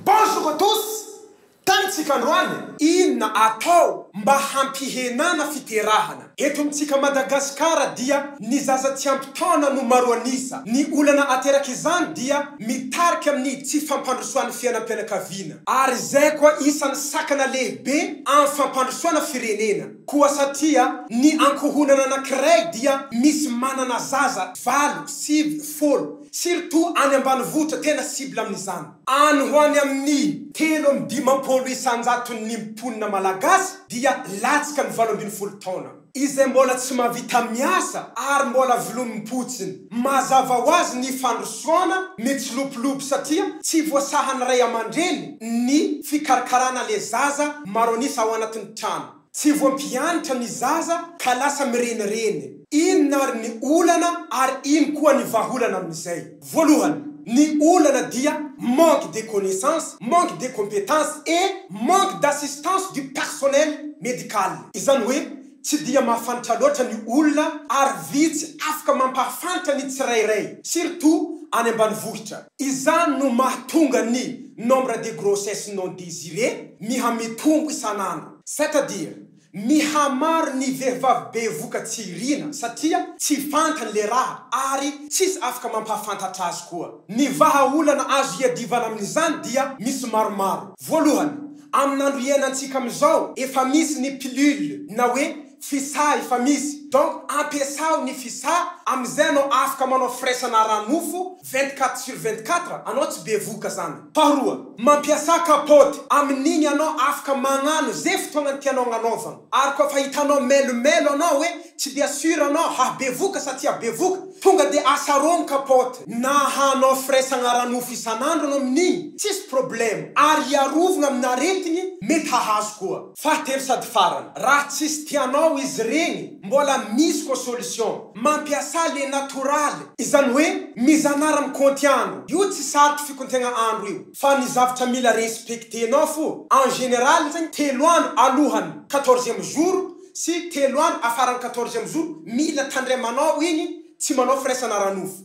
Bonjour à tous! Tanitsika androany. Inona atao mba hampihenana fiterahana? Eto amintsika Madagasikara dia ny zaza tsy ampy taona no maro an'isa. Ny olana aterak'izany dia mitarika amin'ny tsy fampandrosoan'ny fiainam-pianakaviana. Ary izay koa isan'ny sakana lehibe amin'ny fampandrosoana firenena. Koa satria ny ankohonana anankiray dia misy manana zaza valo, sivy, folo, Surtout any ambanivohitra tena cible amin'izany. Any ho any amin'ny telo amby dimampolo isan-jaton'ny mponina malagasy dia latsaka ny valo ambin'ny folo taona, izay mbola tsy mahavita miasa ary mbola vilonim-potsiny. Mazava ho azy ny fandrosoana mitsilopilopy satria tsy voasahan'ny ray aman-dreny ny fikarakarana le zaza maro an'isa ao anatin'ny trano. Tsy voampianatra ny zaza ka lasa mirenireny. Inona ary ny olana ary ino koa ny vahaolana amin'izay? Voalohany, ny olana dia manque de connaissance, manque de compétence et manque d'assistance du personnel médical. Izany hoe tsy dia mahafantatra loatra ny olona ary vitsy afaka mampahafantra ny tsirairay, surtout any ambanivohitra. Izany no mahatonga ny nombre de grossesse non desiree miha-mitombo isan'andro. C'est-à-dire, mihamaro ny vehivavy bevoka tsy irina satria tsy fantany le raha ary tsisy afaka mampahafantatra azy koa. Ny vahaolana azo iadivana amin'izany dia misy maromaro. Voalohany, amin'andro iainantsika amin'izao efa misy ny pilule na hoe Visa efa misy donc ampiasao ny visa amizay anao afaka manao firaisana ara nofo vingt quatre sur vingt quatre anao tsy bevohoka zany. Faharoa, mampiasa kapaoty, amin'igny anao afaka magnano ze fotoagnany tianao agnanaovagna ary koa fa hitanao melomelo anao hoe tsy dia sur anao hahabevoka sa tsy habevoka tonga dia asarogno kapaoty na hanao firaisagna ara nofo isan'andro anao amin'igny tsisy problema ary hiarovagna amina aretigny mety hahazo koa. Fahatelo sady farany, raha tsisy tianao izy ireny, mbola misy koa solution, mampiasa le natoraly, izany hoe mizanara mikaonty andro, io tsy sarotra fikontegna andro io, fa ny zavtra mila respectenao fo, en général zegny telo andro alohany quatorzième jour sy telo andro afaran'ny quatorzième jour mila tandremanao igny, tsy manao firaisana ara-nofo.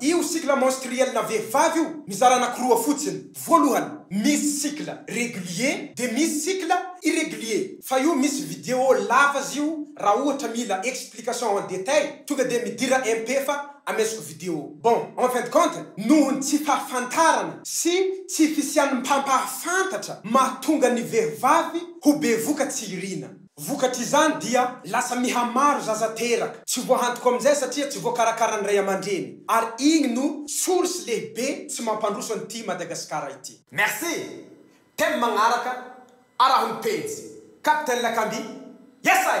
Io cycle menstruel na vehivavy io mizara anakiroa fotsiny, voalohany misy cycle régulier de misy cycle irrégulier, fa io misy vidéo lava zy io raha ohatra mila explication en détail tonga dia midira MP fa amesiko vidéo. Bon, en fin de compte noho ny tsy fahafantarana sy tsy fisian'ny mpampahafantatra mahatonga ny vehivavy ho bevoka tsy irina. Vokatr'izany dia lasa mihamaro zaza teraka tsy voahantoka amin'izay satria tsy voakarakaran'ny ray aman-dreny ary igny no source lehibe tsy mampandroso an'ity Madagasikara ity. Merci! Thème magnaraka, araho ny pejy. Captain Lakamby, Yes I!